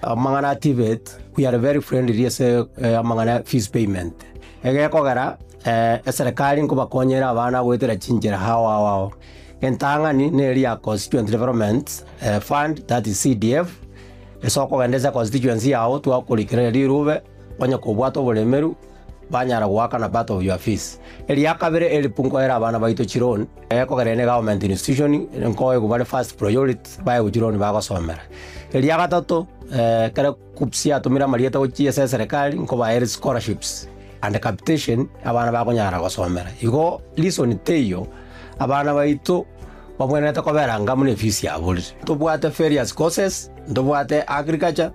Amang'ana a Tibet, we are very friendly ase amang'ana ya fees payment. Egekogera eserekari nkobakonyere abana goetera chinchera ao ao ao. Entang'ani neri ya Constituent Development Fund that is CDF, ase okogenda ase constituency yago twakorikera rirube, onye kobwate oboremeru, banyara goaka na part of your fees. Eria kabere elipu nkoere abana baito chiloan, ekogera ene government institution nkoegu bare first priority baegwe chiloan bagosomera. Eria gatato ekero KUCCPS yatumire amarieta gochia ase eserekari nkobaere scholarships and capitation abana bakonyara gosomera. Igo reason teiyo abana baito babwenerete kobera ngamu ne fees yaborire. Ntobwate various courses, ntobwate agriculture,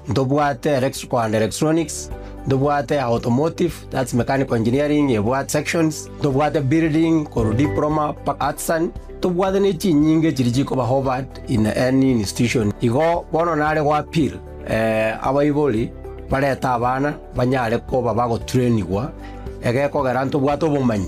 Ntobwate electrical and electronics, ntobwate automotive, that's mechanical engineering ebwate sections, ntobwate building korwa diploma mpaka artisan, ntobwate ne chinyinga echiria chikoba offered in any institution. Igo bono nare goappeal eh, abaibori barete abana banyare koba bagotrainigwa egekogera ntobwate obomanyi.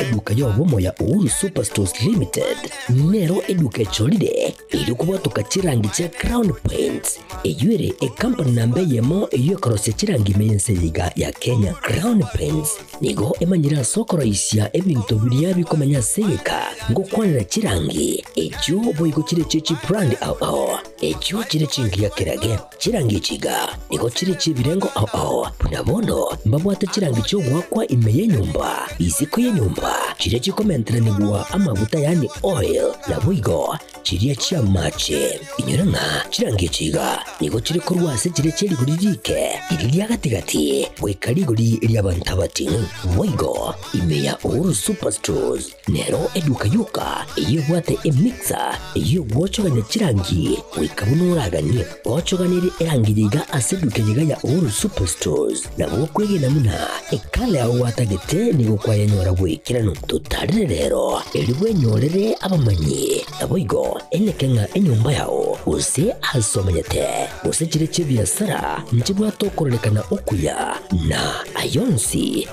Eduka y'obomoya Uhuru Superstores Limited nero eduka echorire eyiri kobotoka chirangi chia Crown Paints, eyio ere ecompany namba eyemo eyio ekorosia chirangi ime y'ense eye iga ya Kenya. Crown Paints nigo emanyire ase okoroisia ebinto biria bikomenya ase egeka ngokwanera chirangi, echio boigo chire echio chibrand ao ao, echio chire chingiya kerage. Chirangi chiga nigo chire chi'ebirengo ao ao, buna bono mbabwate chirangi chi'ogoakwa ime y'enyomba, isiko y'enyomba, chiria chikomenteranigwa amaguta yaani oil, naboigo chiria chi'amaache. Inyore ng'a chirangi chiga nigo chire korwa ase chiria chia rigori riike iri ria gati-gati goika rigori ri'abanto abatini, boigo ime ya Uhuru Superstores. Nero eduka yoka eyio ebwate emixer eyio gwochogania chirangi goika buna oraganie gochoganirie erangi yaiga ase eduka eyaiga ya Uhuru Superstores. Na gokwegena buna ekala yao gwatagete nigo kwayanyora bwekeranu. Totarire rero erio bwenyorere abamanyi, naboigo eneke ng'a enyomba yao, gose aase omanyete, gose chire chi'ebiasara nchibwate okorarekana okuya, na ay'onsi,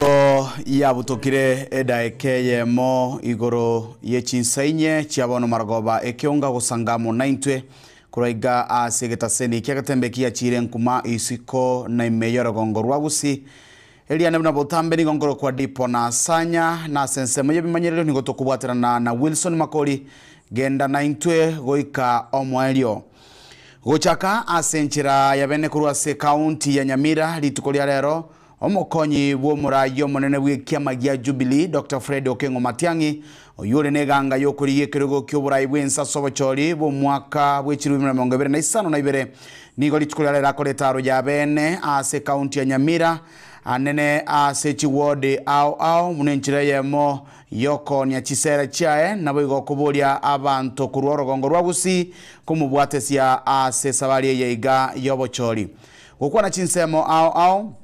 Nigo yabutokire edaeka eyemo igoro ye chinsa inye chia bono Marogoba ekeonga gosanga amo naintwe. Korwa iga aase egetaseni ki'egetembe kiachiire enkuma isiko na ime y'orogongo rwa Gusi, eria nabuna botambe nigo nkorokwa Dipo na Sanya, na ase ensemo y'ebimanyererio nigo tokobwaterana na Wilson Makori genda naintwe goika omoerio. Gochaka ase enchera ya bene korwa ase County ya Nyamira rituko ria rero, Omokonyi bw'omoraai omonene bw'ekiama gia Jubilee, Doctor Fred Okengo Matiang'i, oyio ore neganga y'okorigia ekerogo ki'oboraai bw'ense ase obochori bw'omwaka bw'echirumi buna emerongo ebere na isano na ibere, nigo rituko ria rero akore etaro ya bene ase County ya Nyamira anene ase chiward ao ao buna enchera eyemo Yokoonia chisera chiaye, naboigo okoboria abanto korwa orogongo rwa Gusii komobwatesia ase esabari eye iga y'obochori. Gokwana chinsemo ao ao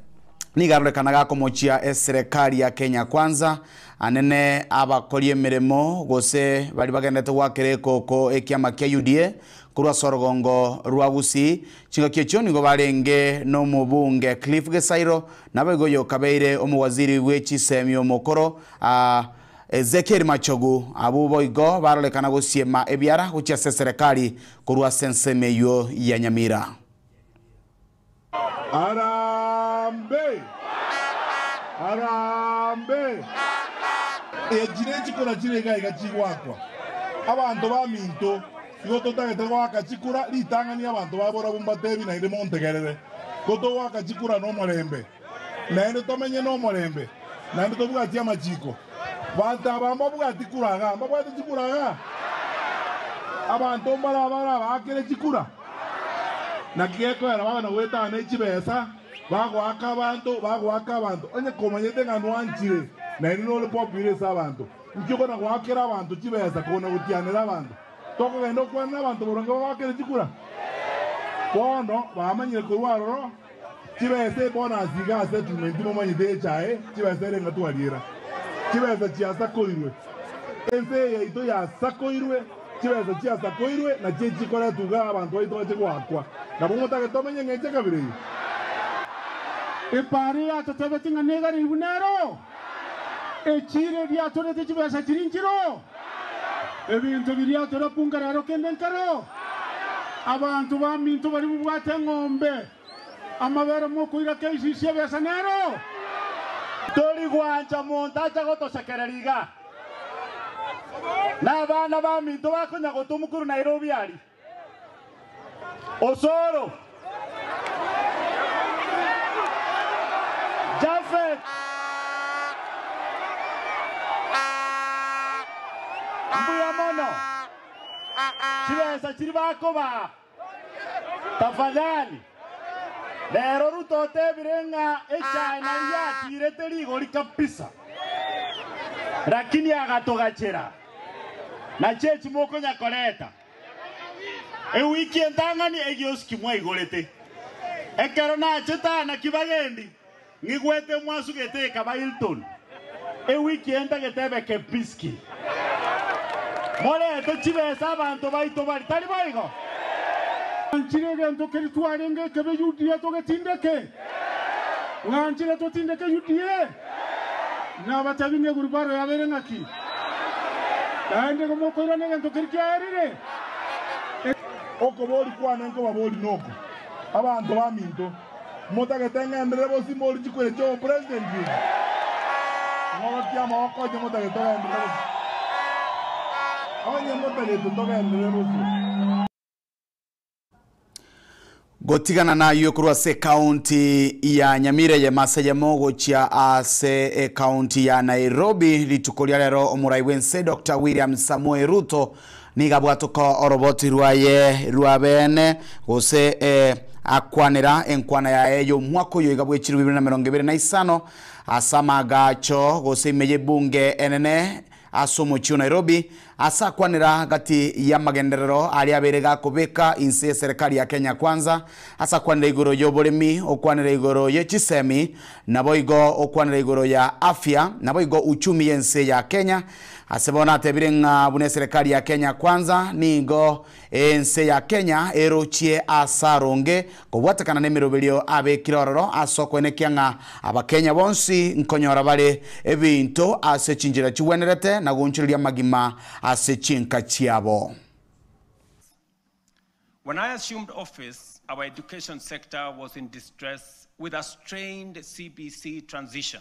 nigo arorekanaga akomochia eserekari ya Kenya Kwanza, anene, abakori emeremo, gose baria bagenderete goakera ekooko ekiama kia UDA korwa ase orogongo rwa Gusii. Chingaki echio nigo barenge n'omobunge Cliff Gesairo Naboigo oyokabeire omowaziri bwe chisemi omokoro, Ezekiel Machogu, abwo boigo barorekana gosiema ebiara gochia ase eserekari korwa ase ensemo eyio ya Nyamira. Harambe! Harambe! Echi ne chikura chire iga iga chigoakwa abanto baminto. Igo totagete goaka chikura ritang'ani abanto ba borabu mbatebi naende montegerere, ko togoaka chikura nomorembe, naende tomenye nomorembe, naende tobwatie amachiko. Banto aba mbabwati kura iga, mbabwate chikura iga. Abanto mbaraba arabaakere chikura. Naki gekoera babe na goetana ne chibesa, bagoaka abanto, bagoaka abanto, onye komanyete ng'a nwanchire, naende nore popular ase abanto. Inki okona goakera abanto chibesa koguna gotianera abanto? Tokogenda gokwana nabanto boronge bagoakere chikura? Bono bamanyire korwa aroro chibesa ebonasi iga ase etume inti momanyete echae chibesa ere ng'a twariera. Chibesa chiasakoirwe. Ense eye yaito yasakoirwe. Chibesa chiasakoirwe nachio echikoretwa iga abanto baito bache goakwa. Nabo motagete tomenye ng'a eche kabere eye. Epaari yacha chebe ching'ana igare buna ero. Echiira ebiatorete chibesa chiri nchiro? Ebinto biria atorapungera aro kende nkero? Abanto baminto baria bobwate eng'ombe, amabere mokoira keisi si'ebesa nero? Tori gwancha monto acha gotosekerera iga, na abana baminto bakonya gotua mokuru Nairobi aria. Osoro, Jafet, mbuya mono. Chibesa chiria bakobaa, tafadhali. Rero Ruto otebire ng'a echae naria yatiirete rigori kabisa. Lakini agatogachera, Nachi echi mokonyakoreta? Ewiki entang'ani egiosi kimwaigorete. Ekero nachete aa naki bagendi, ng'igwete mwasugete ekaba Hilton. Ewiki entagete ebe Kempinski. Morete chibesa abanto baito bare, tari boigo? Ng'anchire egento keria twarenge ekebe Yudea togetindeke. Ng'anchire totindeke Yudea. Nabatebi ng'a egurupu aro yabeire ng'aki? Naende igo mokoirana egento keria kiaerire. Okobori kwane nkobabori noko, abanto baminto, motagete ng'enderere bosio mbori chikura echi obopresident echi. Ng'orokie amaboko onye motagete ogenderere bosio. Onye motagete togenderere bosio. Gotigana nayio korwa ase ekaunti ya Nyamira eyemo ase eyemo gochia ase ekaunti ya Nairobi rituko ria rero omorai bw'ense Doctor William Samoei Ruto nigo abwateka oroboti rwaye rwa beene gose akwanera enkwana yaye y'omwaka oyo iga bw'echirwe bibere na merongo ebere na isano ase amaagacho gose ime y'ebunge enene ase omochie o Nairobi Ase akwanera gati y'amagenderero aria abere gakobeka inse ye Serikali ya Kenya Kwanza, ase akwanera igoro y'oboremi, okwanera igoro ye chisemi, naboigo okwanera igoro ya afya, naboigo uchumi y'ense ya Kenya. Ase bono natebire ng'a buna eserikali ya Kenya Kwanza nigo. Ense ya Kenya erochie as'aronge kobwatekana n'emeroberio abekire ororo as'okwenekia ng'a Abakenya bonsi nkonyora bare ebinto ase chinchera chigwenerete na goonchoreria amagima ase chinka chiabo. When I assumed office, our education sector was in distress with a strained CBC transition.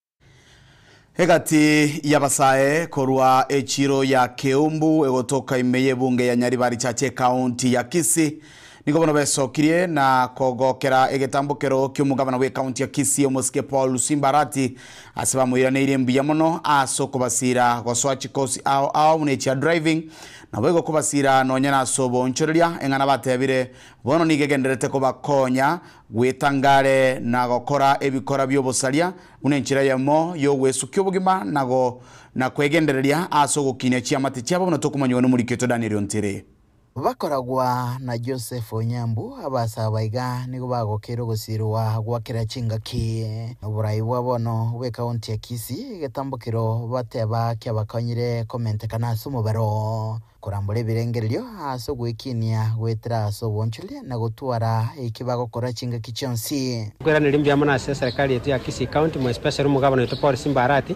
Egati y'abasae korwa echiro ya Keumbu egotoka ime y'ebunge ya Nyaribari Church Ekaunti ya Kisii nigo bono besokirie na kogokera egetambokero ki'omogabana bw'ekaunti ya Kisii omosike Paul Lusimba Arati ase bamoiraneirie mbuya mono ase okobasira gosoa chikosi ao ao buna echia driving nabo igo kobasira nonya nase oboonchoreria eng'ana batebire bono nigo egendererete kobakonya Gwetangare na gokora ebikora bi'obosaria buna enchera eyemo y'ogwesukia obogima na go, na kwegendereria ase ogokinia chiamate chiabo buna tokomanyigwa n'omoriki oito Danieli o Ntiri. Bakoragwa na Joseph Onyambu, Abasaba iga nigo bagokeire ogosirwa gwa kera chingaki noborai bwa bono bw'ekaunti ya Kisii, egetambo kero bateba kiabakonyire komentekana ase omobero. Korambora ebirengererio ase ogwekinia goetera ase obonchoria na gotwara eki bagokora chingaki chionsi. Nkweraneria mbuya mono ase eserekari yaito ya Kisii County, more especially omogabana oito Paul Simba Arati,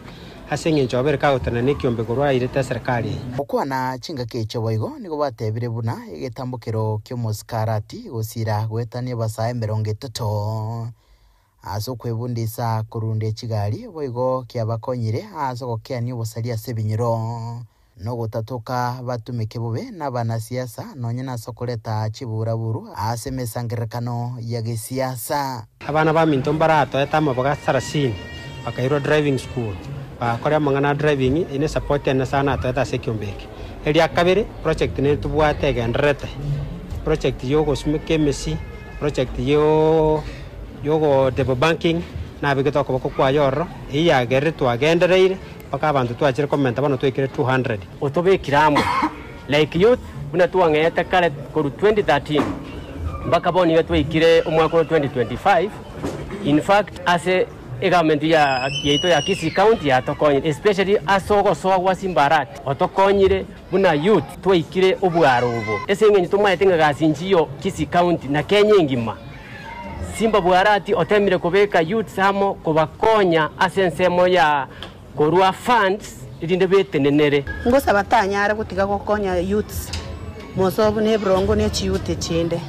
ase eng'encho obeire kagotenena ekiombe korwa airete eserekari eye. Okwana chingaki echo boigo nigo batebire buna egetambokero ki'omosike Arati gosiira goetania ebasaa emerongo etato. Ase okwebundisa korunda echigari boigo kiabakonyire ase ogokeania obosaria ase ebinyiro, na ogotatoka batumeke bobe nabanasiasa, nonya nase okoreta chiburaburu ase emesangererekano ya gesiasa. Abana baminto mbaratoete amaboga sarasini bakairwa driving school, bagakora amang'ana a driving. Eye ne support ene nase ayane atoete ase ekiombe eke. Eria kabere, project nere tobwate egendererete, project ya ogosumeka emesi, project ya y'ogoteebwa banking, nabegete okoboko kwaye ororo, eyio yagerire twagendereire mpaka abanto twachire komenta bono twaikire 200. Otobekire amo like youth buna twang'eete kare korwa 2013 mpaka bono iga twaikire omwaka oro 2025. In fact ase egovernment ya yaito ya Kisii county yatokonyire especially ase ogosoa gwa simbarati otokonyire buna youth twaikire obwaro obo ase eng'encho tomaete ng'a gasi inchiyo Kisii county na Kenya engima. Simba Bwarati otemire kobeka youths amo kobakonya ase ensemo ya korua funds erinde betenenere. Ngosaba tanyare gotiga gokonya youths mosobu ne ebirongo ne chiyouth echinde.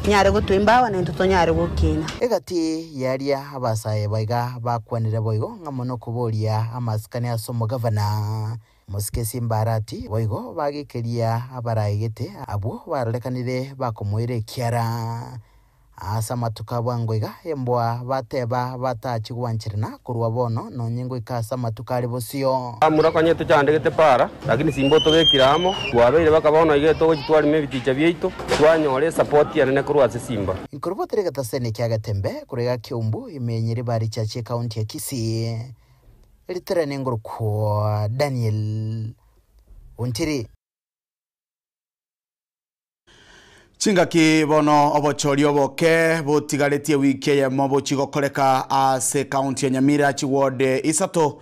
Anyare gotwa embao nintwe tonyare gokina. Egati yaria abasae baiga bakwanire boigo ng'a mono koboria amasikani as'omogavana. Mosikesie Mbarati boigo bagekeria abaraegete abwo barorekanire bakomoira ekiara. Ase amatuko a bwango iga embwa bateba batachi gwancherana korwa bono nonye ngoika ase amatuko are bosio. Amura kanye tochandegete para, lakini simbo tobekire amo, twabeire baka bono iga etogochi twarima ebiticha biaito, twanyora esapoti enene korwa ase simba. Ikorwa batari egetaseni kia Getembe, korwa iga Kiumbu, ime enye ribaari chiachia ekaunti ya Kisii. Eritera nengorokwa Daniel ontiri. Chingaki bono obochori oboke botigaretie ewiki eyemo bochie gokoreka ase county ya Nyamira chiward isato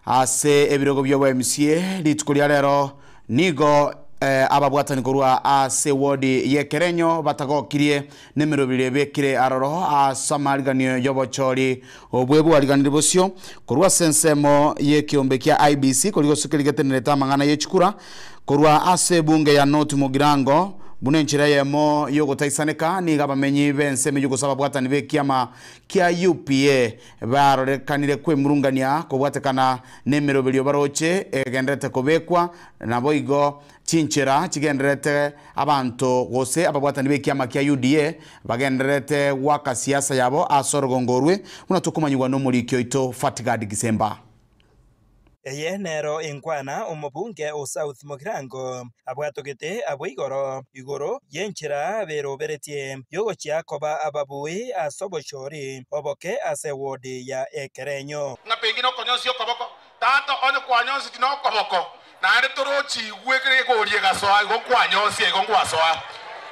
ase ebirogo biobo mca. Rituko ria rero nigo ababwatani korwa ase ward ya Ekerenyo batagokirie nemerobiri ebekire aroro as'amariganio y'obochori obwe bwariganiri bosio korwa as'ensemo y'ekeombe kia IEBC koria gosuka erigetenerete amang'ana yechikura korwa as'ebunge ya North Mugirango buna enchera eyemo y'ogotaisaneka nigo abamenyi b'ense emenyugusu ababwatani b'ekiama kia UPA barorekanire kwemurungania kobwatekana nemerobiri obaroche egenderete kobekwa naboigo Chinchera chigendererete abanto gose ababwatani b'ekiama kia UDA bagendererete goaka siasa yabo ase orogongo orwe, buna tokomanyigwa n'omoriki oito Fatgard Gisemba. Eye nero enkwana omobunge o South Mogirango abwatogete abwo igoro igoro y'enchera beroberetie y'ogochia koba ababui ase obochori oboke ase ewodi ya Ekerenyo. Ng'a pengine okonyonsi okoboko Tata onye kwanyonseti nokoboko, naende torochi igwe ekero gekoria egasoa, igo nkwanyosia, igo ngwasoa.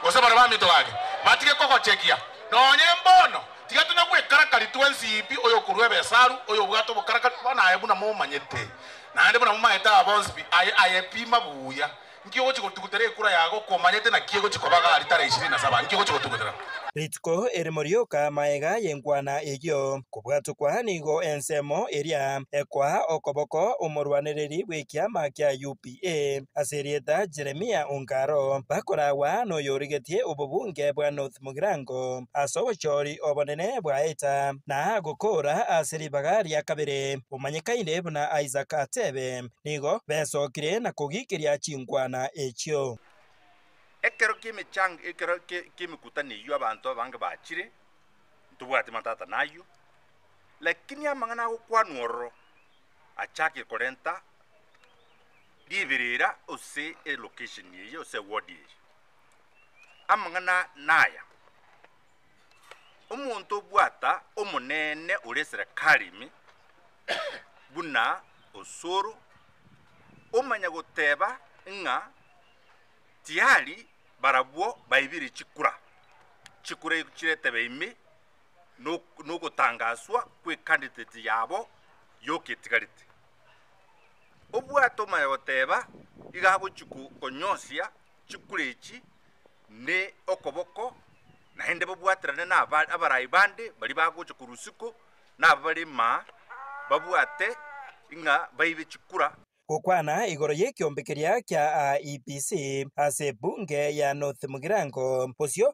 Gose baria baminto gake batige kogochegia, nonye mbono, tiga tonya gwekarakari twensi pi, oyokorua ebesaru, oyobwate obokarakari, bono aye buna momanyete, naende buna momaete aba bonsi pi, aye, aye pi mabuya. Nki ogochia gotugutera ekura yago okwo omanyete naki egochia koba iga alitari ya ishirini na saba? Nki ogochia gotugutera? Rituko erimo rioka maega y'enkwana eyio, kobwatokwa nigo ensemo eria ekoaa okoboko omorwanereri bw'ekiama kia UPA ase erieta Jeremia Ongaro, bakoragwa noyorigetie obobunge bwa North Mugirango ase obochori obonene bwa Eta na gokoora ase ribaga ria kabere, omanyekaine buna Isaac Atebe nigo besokire na kogiikeria chinkwana echio. Ekero ki'emechang, ekero ki'emekutano eyio abanto abange bachire, ntobwati matata nayio, lakini amang'ana agokwanwa ororo achake korenta riberera ase elocation eye ase eward eye. Amang'ana naya, Omonto obwata omonene oresire Karimi buna osoro, omanya goteba ng'a tiari barabwo baibirie chikura, chikura echio chiretebe ime nok- nogotangaswa kw'ecandidate yabo yoka etigarete. Obwate omanya goteba iga agochi ko- konyosia chikure echi ne okoboko, naende babwaterane naba abarai bande baria bagocha korwa isiko, na aba bare maa babwate ng'a baibe chikura. Gokwana igoro y'ekiombe keria kia AEBC ase ebunge ya North Mugirango bosio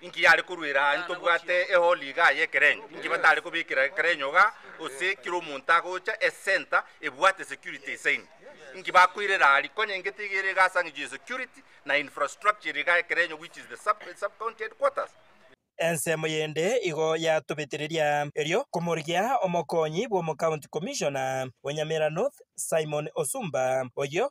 Inki yare koruera aye tobwate ehori igaa y'ekerenyo? Inki batare kobekera ekerenyo igaa gose kera omonto agocha esenta ebwate security esaini? Inki bakoirera aria? Konya inge tiga ere igaa ase ang'encho ya security na infrastructure ere igaa ekerenyo which is the sub sub county headquarters. Ensemo yende igo yatobetereria erio komorigia omokonyi bw'omocounty commissioner o Nyamira North Simon Osumba oyio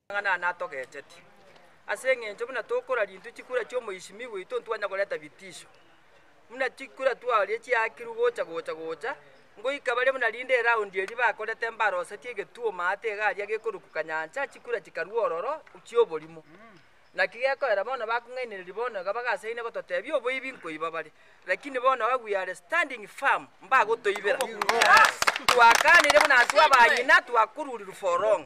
Amang'ana aya natogecheti, ase engencho buna tokora rintwe chikura chi'omoisimigwa oito ntibwanya koreta bitisho. Buna chikura twaoria chiaakirwe gocha gocha gocha, ngoika baria buna rinde eraundi eria bakorete mbarosetie egetuoma ate egaria gekoruka kanyancha, chikura chikarua ororo chi'oborimo. Naki gekoera bono bakong'ainereria bono iga bagasaine gototebia oboibi nkoiba bare, lakini bono iga we are standing firm mbagotoibera. Twakanire buna intwe abanyina twakorurirwe for long.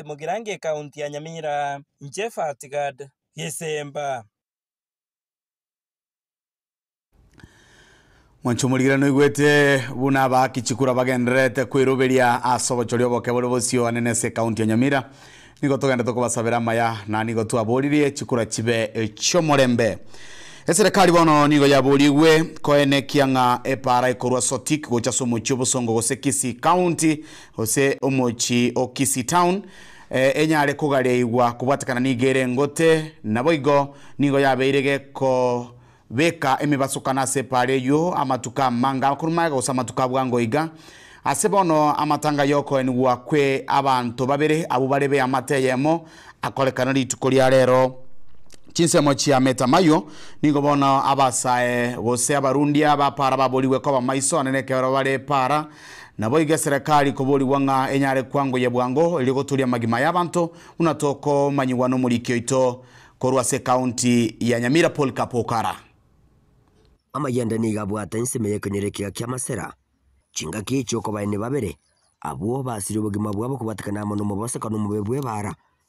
Beti Mugirango ekaunti ya Nyamira, inche Fatgad, Gesemba. Mwanche omorigira noigwete buna aba Kichikura bagendererete kweroberia ase obochoria oboke bore bosio ane nese ekaunti ya Nyamira. Nigo togendete kobasabera amaya na nigo twaboririe chikura chibe echiomorembe. Eserekari bono nigo yaborigwe koenekia ng'a epaara ekorwa Sotik gocha ase omochie o Bosongo gose Kisii County Gose omochi o Kisii Town enyare kogariaigwa kobwatekana nigo ere engote, naboigo nigo yabeire gekobeka emebasokano ase epaara eyio amatuko amanga korwa magega gose amatuko a bwango iga. Ase bono amatanga y'okoenigwa kwe abanto babere abwo bare b'eamate eyemo akorekana rituko ria rero. Chinsemo chia metamayo nigo bono abasae gose abarundia ba paara baborigwe koba maiso ane nekeberero bare epaara. Naboigo eserekari koborigwa ng'a enyare kwangoyia bwango erio goturia amagima y'abanto, buna tokomanyigwa n'omoriki oito korwa ase ekaunti ya Nyamira Polycarp Okara. Amayanda nigo abwate ensemo y'ekenyoro ekiaga kia Masera, chingaki echi'okobaeni babere, abwo basirie obogima bwabo kobwatekana amo nomoboseka nomobe bw'ebaara,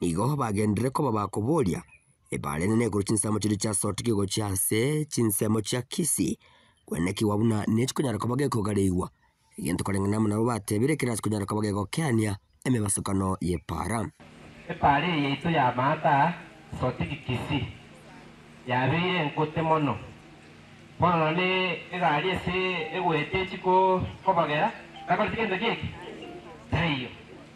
nigo bagenderere koba bakoboria ebare enene igoro chinsemo chiria chiasorokire gochia ase chinsemo chia Kisii, kwene kiwa buna nechikonyara koba gekogareigwa, egento koreng'ana na amo nabo batebire ekero ase konyara koba gegokeania emebasokano y'epaara. Epaara eye yaito y'amaata Sortiki Kisii yabeire engote mono, bono nonya egari ase egoeta echi kobagera, takoreti gento gieke? Taiyo.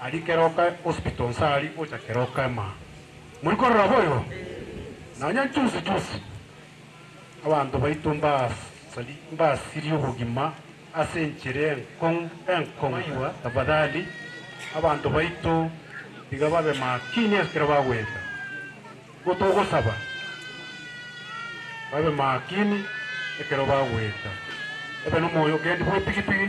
Aria Keroka Hospital nse aria gocha Keroka Ema. Muri korora boigo? Nonya juzi juzi abanto baito mbasirie obogima ase enchera enkong'u enkong'u. Tafadhali abanto baito tiga babe makini ekero bagoeta. Nigo togosaba babe makini ekero bagoeta. Ebe nomoyo okendi bw'epigipigi.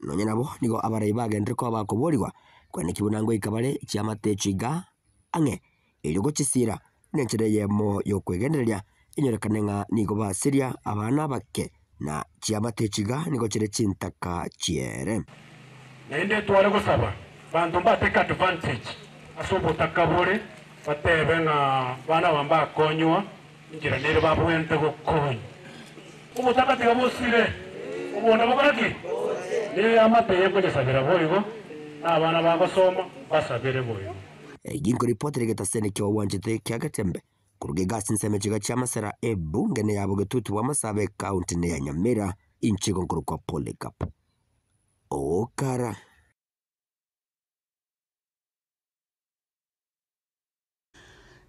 Nonya nabo nigo abarai bagenderire koba bakoboorigwa, kwanekigwe buna ngoika bare chiamate chiga ang'e, erio gochisiira nenchera eyemo y'okwegendereria enyorekane ng'a nigo basiria abana abake, na chiamate chiga nigo chire chintaka chiere. Naende tware gosaba banto mbatake advantage ase obotaka bore, batebe ng'a bana aba mbakonywa Ekero naire babwenerete gokoonya, obotaka tiga bosire, oboonda bokora ki? Naire amate y'okonyesabera boigo, na abana bagosoma mbasabere boigo. Eki nkoripotera egetase niki ogwanchete kia Gatembe koruga iga ase ensemo chiga chia Masera Ebunge neya Bogetutu bwa Masaaba Ekaunti neya Nyamira inche igo nkorokwa Polycarp Okara.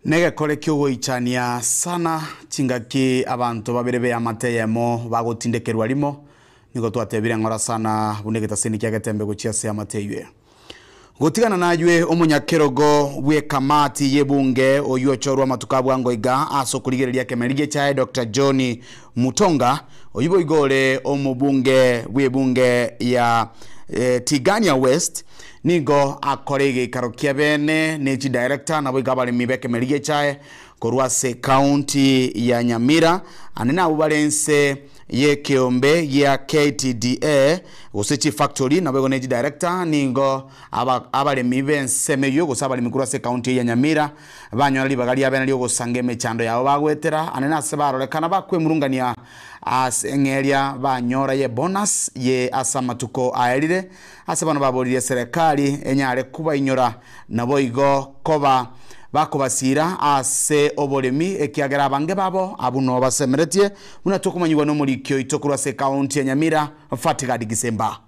Negekore ki'ogoichania sana chingaki abanto babere b'eamate eyemo bagotindekerwa rimo, nigo twatebire ng'ora sana buna egetaseni kia getembe gochia ase eamate eyio eye. Gotigana naywe omonyakerogo bw'ekamati y'ebunge oyio ochorwa amatuko abwango iga ase okorigereria ekemereri gechaye Dokta John Mutonga, oyio boigo ore omobunge bw'ebunge ya Tigania West, nigo akore egeikaro kia bene ne chidirector naboigo abaremi b'ekemereri gechae korwa ase county ya Nyamira ande nabwo bare ense y'ekeombe gia KTDA gose chief factory naboigo ne chidirector nigo abaremi b'ensemo eyio gose abaremi korwa ase county eye ya Nyamira Banyora ribaga riabe na ri'ogosanga emechando yabo bagoetera ane na ase barorekana bakwemurungania ase eng'eria banyora ye bonus ye ase amatuko aerire. Ase bono baboririe serekari enyare kobainyora naboigo koba bakobasiira ase oboremi ekiagera abange babo abwo noo basemeretie, buna tokomanyigwa nomoriki oito korwa ase ekaunti ya Nyamira Fatgard Gisemba.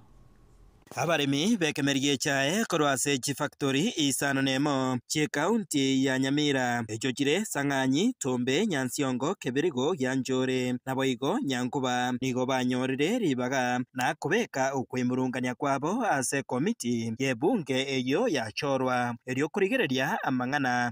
Abaremi b'ekemeri gechae korwa ase chifakitori isano na emo chi'ekaunti ya Nyamira, echio chire Sang'anyi, Tumbe, Nyansiongo, Kibirigo, Gianchore, naboigo Nyankuba, nigo banyorire ribaga na kobeka okwemurungania kwabo ase ekomiti y'ebunge eyio yachorwa, erio korigereria amang'ana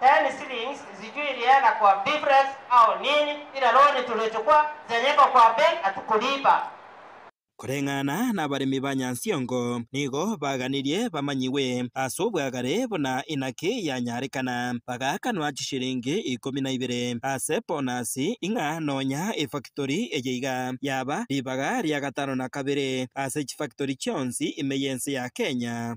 Ten shillings nzitwe iria na kwa bifres ao nini ira loni turecho kwa zenyeko kwa ben atukuriba. Koreng'ana nabaremi ba Nyansiongo nigo baganirie bamanyigwe as'obwagare buna inaki yanyarekana, bagakanwa chishilingi ikomi na ibere ase bonus ing'a nonya efactory eye iga yaba ribaga ria gatano na kabere ase chifactory chionsi ime y'ense ya Kenya.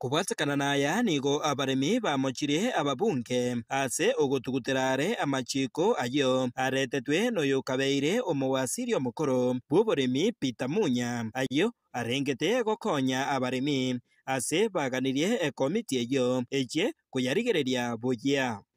Kobwatekana naya nigo abaremi bamochirie ababunge ase ogotugutera are amachiiko ayio areetetwe noyokabeire omowasiri omokoro bw'oboremi Peter Munya, ayio arengete gokonya abaremi ase baganirie ekomiti eyio echie koyarigereria buya.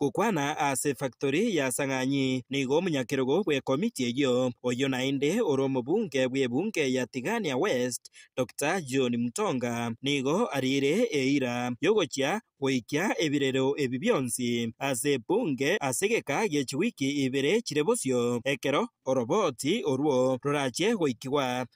Gokwana ase efaktori ya Sang'anyi nigo omonyakerogo bw'ekomiti eyio, oyio naende ore omobunge bw'ebunge ya Tigania West, Dokita John Mutonga, nigo ariire eira y'ogochia goikia ebirero ebi bionsi ase ebunge ase egeka gie chiwiki ibere chire bosio ekero oroboti orwo rorachie goikigwa.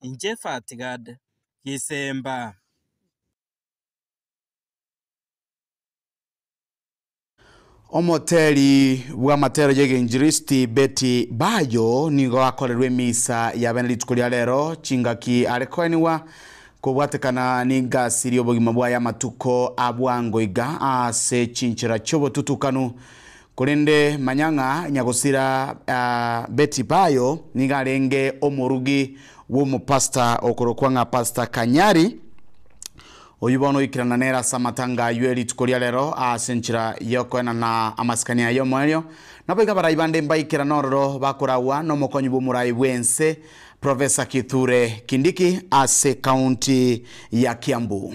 inche Fatgad gisemba. Omoteri bw'amatero y'Egenchiristi Betty Bayo nigo akorerwe emisa ya bene rituko ria rero, chingaki are koenigwa kobwatekana n'egasi ri'obogima bwaye amatuko a bwango iga ase chinchera chi'obotutukanu Korende manya ng'a nyagosira Betty Bayo nigo arenge omorugi bw'omopastor okorokwa ng'a Pastor Kanyari, oyio bono oikerana nere ase amatanga ayio e rituko ria rero ase enchera y'okoenana amasikani aya y'omoerio. Nabo iga abarai bande mbaikerana ororo bakoragwa n'omokonyi bw'omorai bw'ense, Professor Kithure Kindiki ase county ya Kiambu.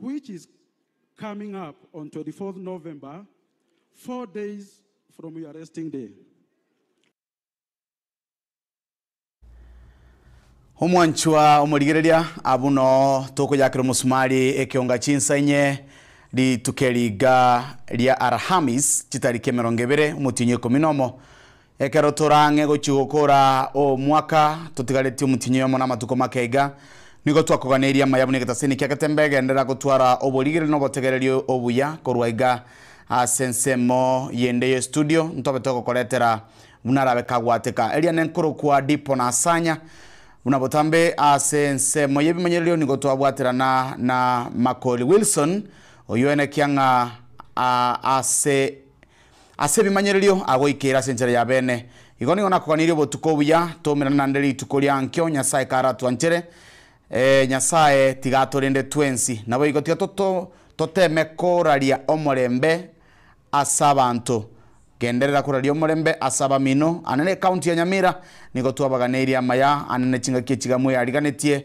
which is coming up on 24th November, four days from your resting day. Omwanchwa omorigereria, abwo noo tokoyakera omosumari ekeonga chinsa inye rituko eri iga ria Alhamis, chitariki emerongo ebere, omotienyi o ikomi nomo, Ekero tore ang'e gochia gokora omwaka, totigaretie omotienyi oyomo na amatuko make iga, nigo twakoganeirie amaya buna egetasini kia getembe egenderera gotwara oborigereri na obotegereri obuya. Korwa iga, ase ensemo yende y'estudio, ntobe togokoretera buna arabe kagwateka. Eriane nkorokwa Dipo na Asanya. Buna botambe ase ensemo y'ebimanyererio nigo twabwaterana na Makori Wilson, oyuene kiang'a ase. Ase ebimanyererio agoikeire ase enchera y'abeene. Igo nigo nakoganirie obotuko obuya toumerane nande rituko ria nkio Nyasae karatwanchere. Ee, Nyasae tiga atorende twensi. Naboigo tiga toto toteme koraria omorembe ase abanto. Genderera koraria omorembe ase abamino. Ane ne County ya Nyamira nigo twabaganeirie amaya ane ne chingaki echiga mweyariganetie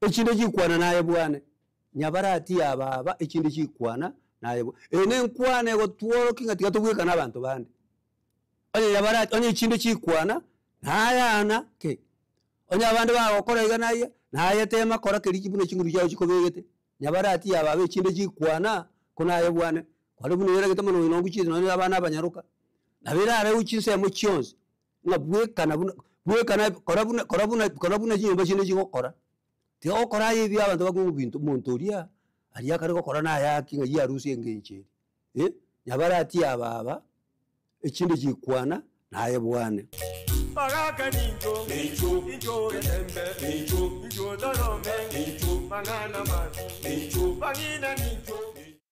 Echinde chikwana naye bwane. Nyabarati ya baba echinde chikwana naye bwa. Eye ne nkwana egotworokia ng'a tiga tobweka na abanto bande. Onye nyabarati onye echinde chikwana nayana ki? Onye abande bagokora iga na iga naye tema kora keria ki buna chinguru chiao chikobegete. Nyabarati ya baba echinde chikwana ko naye bwane. Kware buna oyeregete mono oino oguchiete nonye abana abanyaroka. Nabo erareu chinsemo chionsi. Ng'a bwekana buna bwekana kora buna kora buna kora buna chinyomba chiane chigokora, tiga gokora aye ebi abanto bakoigwa ng'a binto omonto oria aria akare gokora naye ake ng'a ya arusia engencho eria eh, nyabarati aba aba, echinde chikwana naye bwane. Bagaka nincho, nincho, nincho etembe, nincho, nincho torome, nincho, mang'ana mati, nincho, bang'ina nincho.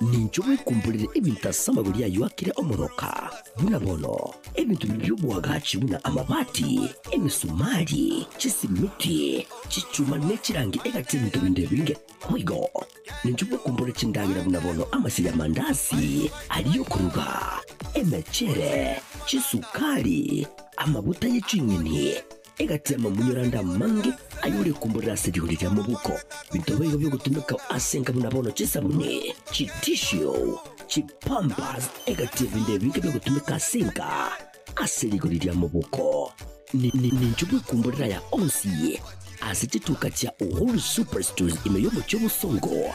Ninche ogwekumborire ebinto ase amagori ayio akire omoroka, buna bono, ebinto bibio bi'oboagachi buna amabati, emesumari, chisimiti, chichuma, ne chirangi egati ebinto binde ebinge boigo. Ninche ogwekumborire chindagera buna bono amasegi amandasi aria y'okoruga, emechere, chisukari, amaguta ye ching'eni, egati y'amamunyora ande amange ayore komborera ase rigori ria mobuko. Binto baigo bi'ogotumekao ase enka buna bono chisabuni, chitishio, chipampers, egati y'ebinto ebinge bi'ogotumeka ase enka ase rigori ria mobuko. Ni- ni- ninche bw'ekomborero aya onsi ase chituka chia Uhuru Superstores ime y'omochie o Bosongo.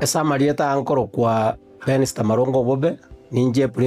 Ase amarieta ankorokwa Benz Tamarunga Obobe, ninche Prince.